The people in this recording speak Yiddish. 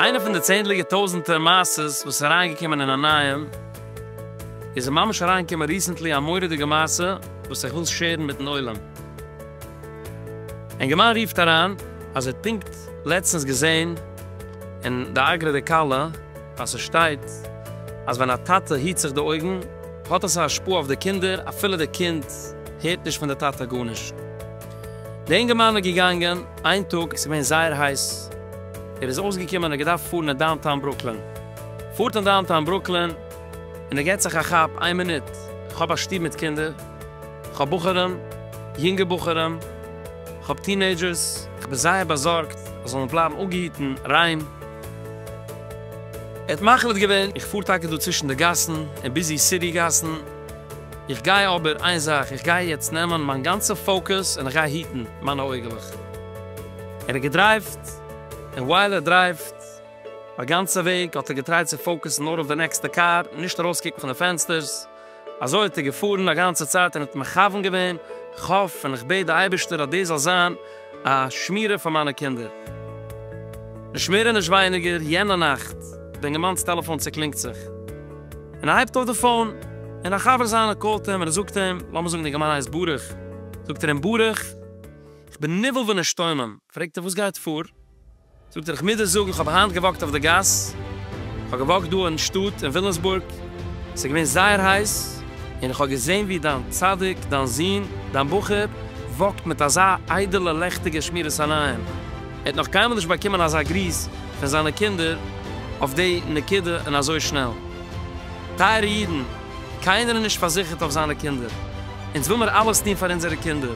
איינע פון די צענדליגע טויזענטער מעשה'ס וואס איז אריינגעקומען אין א נייעם איז ממש אריינגעקומען ריסענטלי א מורא'דיגע מעשה וואס איך וויל שערן מיטן עולם. ענגערמאן רופט אריין אז ער האט פונקט לעצטענס געזעהן אין די אגרא די כלה, ווייל ס'שטייט אז ווען א טאטע היט זיך די אויגן האט עס א השפעה אויף די קינדער אפילו די קינד הערט נישט פון די טאטע גארנישט. די אינגערמאן איז געגאנגען איין טאג עס איז געווען זייער הייס ער איז אויסגעקומען ער האט געדארפט פארן אין דאונטאון ברוקלין פארט אין דאונטאון ברוקלין און ער געט זיך א כאפ איין מינוט איך האב א שטוב מיט קינדער איך האב בחורים יונגע בחורים איך האב טינעידזשערס איך בין זייער באזארגט אז זאלן בלייבן אפגעהיטן ריין. ער האט מחליט געווען, איך פאר טאקע דא צווישן די גאסן און ביזי סיטי גאסן, איך גיי אבער איין זאך, איך גיי יעצט נעמען מיין גאנצע פאוקוס און איך גיי היטן מיינע אויגעלעך. ער האט געדרייווט, און ווייל ער דרייווט, א גאנצע וועג האט ער געטרייט צו פאוקוסן נאר אויף די נעקסטע קאר, נישט ארויסקוקן פון די פענסטערס. אזוי האט ער געפארן א גאנצע צייט און האט מכוון געווען, איך האף און איך בעט די אייבערשטער אז דאס זאל זיין א שמירה פאר מיינע קינדער. נישט מער און נישט ווייניגער, יענע נאכט, די אינגערמאנס טעלעפאן צוקלינגט זיך, און ער הייבט אויף די פאון, און א חבר זיינער קאלט אים און ער זאגט אים, לאמיר זאגן די אינגערמאן הייסט ברוך, זאגט ער אים, ברוך, איך בין נבהל ונשתומם, פרעגט ער, וואס גייט פאר? זאגט ער איך מוז דיר זאגן איך האב היינט געוואקט אויף די גאס, איך האב געוואקט דא אין שטאט אין וויליאמסבורג, עס איז געווען זייער הייס, און איך האב געזען ווי דיין צדיק, דיין זון, דיין בחור, וואקט מיט אזא איידעלע לעכטיגע שמירת עיניים, ער האט נאך קיינמאל נישט באקומען אזא גריס פון זיינע קינדער אויף די נקודה און אזוי שנעל. טייערע אידן, קיינער איז נישט פארזיכערט אויף זיינע קינדער, אונז וויל מיר אלעס טון פאר אונזערע קינדער,